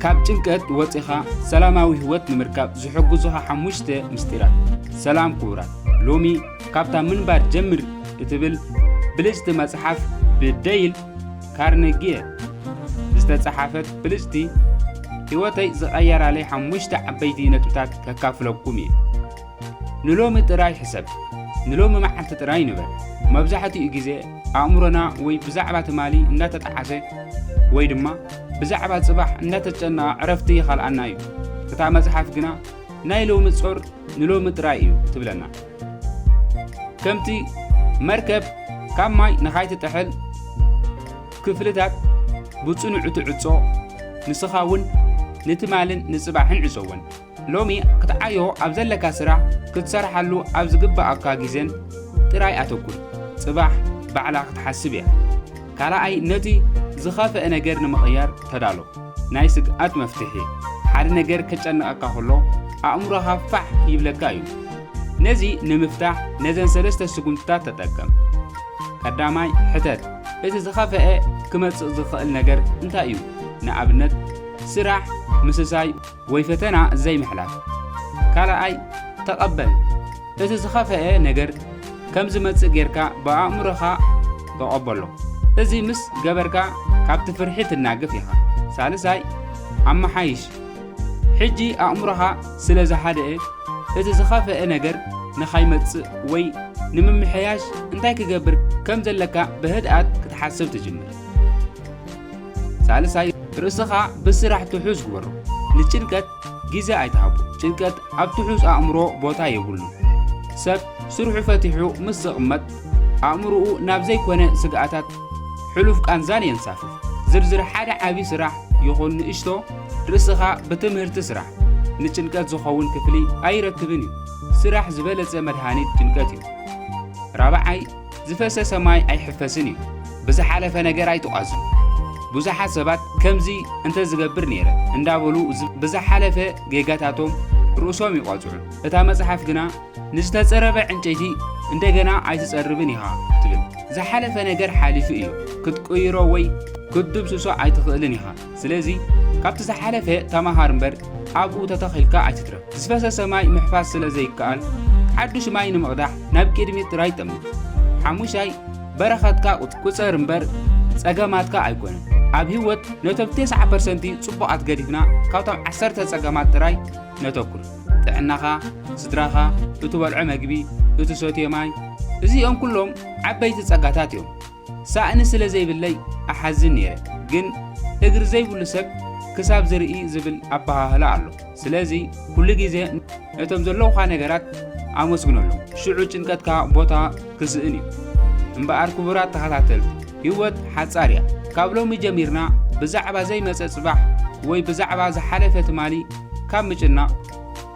ካብ ጭንቀት ወፂኻ ሰላማዊ ህይወት ንምርካብ ዝሕግዙኻ ሓሙሽተ ምስጢራት። ሰላም ክቡራት፣ ሎሚ ካብታ ምንባር ጀምር እትብል ብልጭቲ መጽሓፍ ብደይል ካርነጊየ ዝተጸሓፈት ብልጭቲ ህይወተይ ዝቐየራለይ ሓሙሽተ ዓበይቲ ነጥብታት ከካፍለኩም እየ። ንሎሚ ጥራይ ሕሰብ፣ ንሎሚ መዓልቲ ጥራይ ንበር። መብዛሕትኡ ግዜ ኣእምሮና ወይ ብዛዕባ ትማሊ እንዳተጠዓሰ ወይ ድማ ብዛዕባ ጽባሕ እንዳተጨነቐ ዕረፍቲ ይኸልኣና እዩ። እታ መጽሓፍ ግና ናይ ሎሚ ጾር ንሎሚ ጥራይ እዩ ትብለና። ከምቲ መርከብ ካብ ማይ ንኻይትጥሕል ክፍልታት ብጽኑዕ ትዕጾ፣ ንስኻ እውን ንትማልን ንጽባሕን ዕጸወን። ሎሚ ክትዓዮ ኣብ ዘለካ ስራሕ ክትሰርሓሉ ኣብ ዝግበኣካ ግዜን ጥራይ ኣተኩር ጽባሕ ባዕላ ክትሓስብ እያ ካልኣይ ነቲ ዝኸፈእ ነገር ንምቕያር ተዳሎ ናይ ስግኣት መፍትሒ ሓደ ነገር ከጨንቐካ ከሎ ኣእምሮኻ ፋሕ ይብለካ እዩ ነዚ ንምፍታሕ ነዘን ሰለስተ ስጉምትታት ተጠቀም ቀዳማይ ሕተት እቲ ዝኸፈአ ክመጽእ ዝኽእል ነገር እንታይ እዩ ንኣብነት ስራሕ ምስሳይ ወይ ፈተና ዘይምሕላፍ። ካልኣይ፣ ተቐበል። እቲ ዝኸፍኤ ነገር ከም ዝመጽእ ጌርካ ብኣእምሮኻ ተቐበሎ። እዚ ምስ ገበርካ ካብቲ ፍርሒ ትናገፍ ኢኻ። ሳልሳይ፣ ኣመሓይሽ። ሕጂ ኣእምሮኻ ስለ ዝሃደኤ እቲ ዝኸፍኤ ነገር ንኻይመጽእ ወይ ንምምሕያሽ እንታይ ክገብር ከም ዘለካ ብህድኣት ክትሓስብ ትጅምር። ሳልሳይ ርእስኻ ብስራሕ ትሑዝ ግበሮ። ንጭንቀት ግዜ ኣይትሃቦ። ጭንቀት ኣብ ትሑዝ ኣእምሮ ቦታ የብሉን። ሰብ ስርሑ ፈቲሑ ምስ ዝቕመጥ ኣእምሮኡ ናብ ዘይኮነ ስግኣታት ሕሉፍ ቃንዛን የንሳፍፍ። ዝርዝር ሓደ ዓቢ ስራሕ ይኹን ንእሽቶ ርእስኻ ብትምህርቲ ስራሕ። ንጭንቀት ዝኸውን ክፍሊ ኣይረክብን እዩ። ስራሕ ዝበለጸ መድሃኒት ጭንቀት እዩ። ራብዓይ ዝፈሰሰ ማይ ኣይሕፈስን እዩ ብዝሓለፈ ነገር ኣይትቋዙ ብዙሓት ሰባት ከምዚ እንተዝገብር ነይረ እንዳበሉ ብዝሓለፈ ጌጋታቶም ርእሶም ይቋጽዑ እታ መጽሓፍ ግና ንዝተጸረበ ዕንጨይቲ እንደገና ኣይትጸርብን ኢኻ ትብል ዝሓለፈ ነገር ሓሊፉ እዩ ክትቅይሮ ወይ ክትድምስሶ ኣይትኽእልን ኢኻ ስለዚ ካብቲ ዝሓለፈ ተማሃር እምበር ኣብኡ ተተኺልካ ኣይትትረፍ። ዝፈሰሰ ማይ ምሕፋስ ስለ ዘይከኣል ሓዱሽ ማይ ንምቕዳሕ ናብ ቅድሚት ጥራይ ጠምት። ሓሙሻይ በረኸትካ ቁጸር እምበር ጸገማትካ ኣይኮነን። ኣብ ህይወት ነቶም 90 ፐርሰንቲ ጽቡቓት ገዲፍና ካብቶም ዓሰርተ ጸገማት ጥራይ ነተኩር ጥዕናኻ ስድራኻ እትበልዖ መግቢ እትሰትዮ ማይ እዚኦም ኩሎም ዓበይቲ ጸጋታት እዮም ሳእኒ ስለ ዘይብለይ እሓዝን ነይረ ግን እግሪ ዘይብሉ ሰብ ክሳብ ዝርኢ ዝብል ኣበሃህላ ኣሎ። ስለዚ ኩሉ ግዜ ነቶም ዘለውኻ ነገራት ኣመስግነሎም፣ ሽዑ ጭንቀትካ ቦታ ክስእን እዩ። እምበኣር ክቡራት ተኸታተልቲ፣ ህይወት ሓጻር እያ። ካብ ሎሚ ጀሚርና ብዛዕባ ዘይመጸ ጽባሕ ወይ ብዛዕባ ዝሓለፈ ትማሊ ካብ ምጭናቕ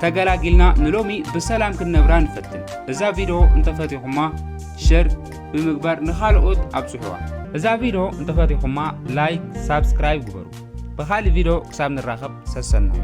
ተገላጊልና ንሎሚ ብሰላም ክንነብራ ንፈትን። እዛ ቪድዮ እንተፈቲኹማ ሸር ብምግባር ንኻልኦት ኣብጽሑዋ። እዛ ቪዶ እንተፈቲኹማ ላይክ ሳብስክራይብ ግበሩ። ብኻልእ ቪዶ ክሳብ ንራኸብ ሰሰናዩ።